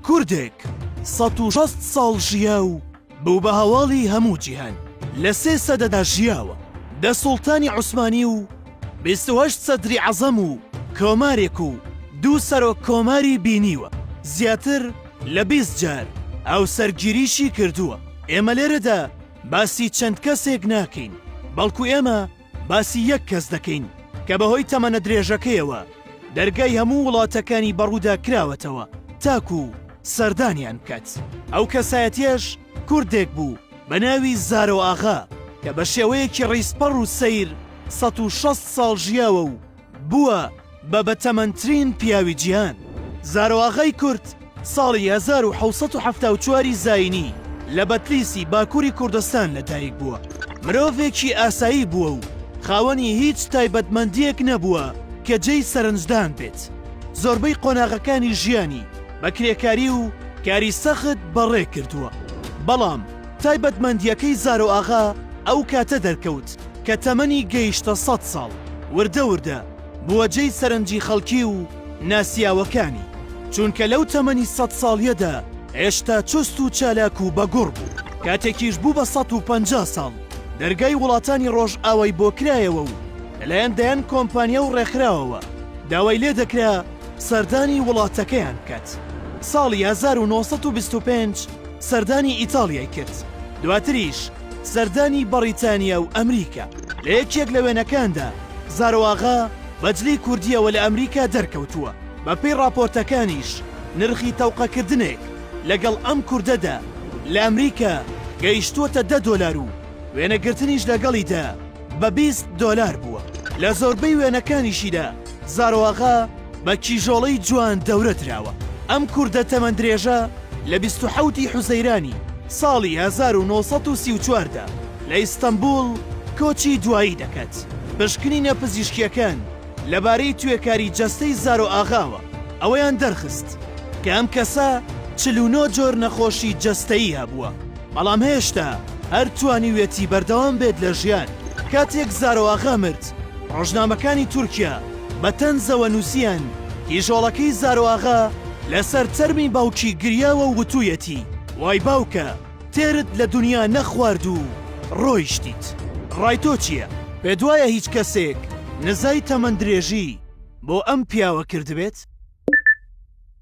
کوردێک سەد و شەست ساڵ ژیا و بوو بە هەواڵی هەموو جیهان، لە سێ سەدەدا ژیاوە، دە سوڵتانی عوسمانی و بیست و هەشت سەدری عەزەم و کۆمارێک و دوو سەرۆک کۆماری بینیوە، زیاتر لە بیست جار هاوسەرگیریشی کردووە، ئێمە لێرەدا باسی چەند کەسێک ناکەین، بەڵکو ئێمە. باسی یەک کەس دەکەین کە بەهۆی تەمەنە درێژەکەیەوە دەرگای هەموو وڵاتەکانی بەڕوودا کراوەتەوە تاکو و سەردانیان بکات ئەو کەسایەتیش کوردێک بوو بە ناوی زارۆ ئاغا کە بە شێوەیەکی ڕیزپەڕ و سەیر ١٦٠ ساڵ ژیاوە و بووە بە بەتەمەنترین پیاوی جیهان. زارۆئاغای کورد ساڵی هەزار و حەوت سەد و حەفتا و چوار ی زایینی لە بەتلیسی باکووری کوردستان لەدایک بووە. مرۆڤێکی ئاسایی بووە و خاوەنی هیچ تایبەتمەندییەک نەبووە کە جێی سەرنجدان بێت. زۆربەی قۆناغەکانی ژیانی بە کرێکاری و کاری سەخت بەڕێ کردووە. بەڵام تایبەتمەندییەکەی زارۆئاغا ئەو کاتە دەرکەوت، کە تەمەنی گەیشتە سەد ساڵ، وردە وردە بووە جێی سەرنجی خەڵکی و ناسیاوەکانی، چونکە لەو تەمەنی سەد ساڵیەدا هێشتا چوست و چالاک و بە گوڕ بوو، کاتێکیش بوو بە سەد و پەنجا ساڵ، دەرگای وڵاتانی ڕۆژئاوای بۆ کرایەوە و لەلایەن دەیان کۆمپانیا و ڕێکخراوەوە داوای لێ دەکرا سەردانی وڵاتەکەیان بکات، ساڵی هەزار و نۆ سەد و بیست و پێنج سەردانی ئیتاڵیای کرد، دواتریش. سەردانی بەڕیتانیا و ئەمریکا. لە یەکێک لە وێنەکاندا زارۆئاغا بە جلی کوردییەوە لە ئەمریکا دەرکەوتووە، بەپێی ڕاپۆرتەکانیش نرخی تەوقەکردنێک لەگەڵ ئەم کوردەدا لە ئەمریکا گەیشتووەتە دە دۆلار و وێنەگرتنیش لەگەڵیدا. بە بیست دۆلار بووە. لە زۆربەی وێنەکانیشیدا زارۆئاغا بە کیژۆڵەی جوان دەورە دراوە. ئەم کوردە تەمەندرێژە لە بیست و حەوت ی حوزەیرانی ساڵی هەزار و نۆ سەد و سی و چوار دا لە ئیستەنبووڵ کۆچی دوایی دەکات. پشکنینە پزیشکییەکان لەبارەی توێکاری جەستەی زارۆئاغاوە ئەوەیان دەرخست کە ئەم کەسە چل و نۆ جۆر نەخۆشی جەستەیی هەبووە. بەڵام هێشتا هەر توانیویەتی بەردەوام بێت لە ژیان. کاتێک زارۆ ئاغا مرد، ڕۆژنامەکانی تورکیا بە تەنزەوە نووسییان، کیژۆڵەکەی زارۆ ئاغا لەسەر تەرمی باوکی گریاوە و وتوویەتی، وای باوکە، تێرت لە دونیا نەخوارد و ڕۆیشتیت. ڕای تۆ چییە؟ پێت وایە هیچ کەسێک نزای تەمەندرێژی بۆ ئەم پیاوە کردبێت؟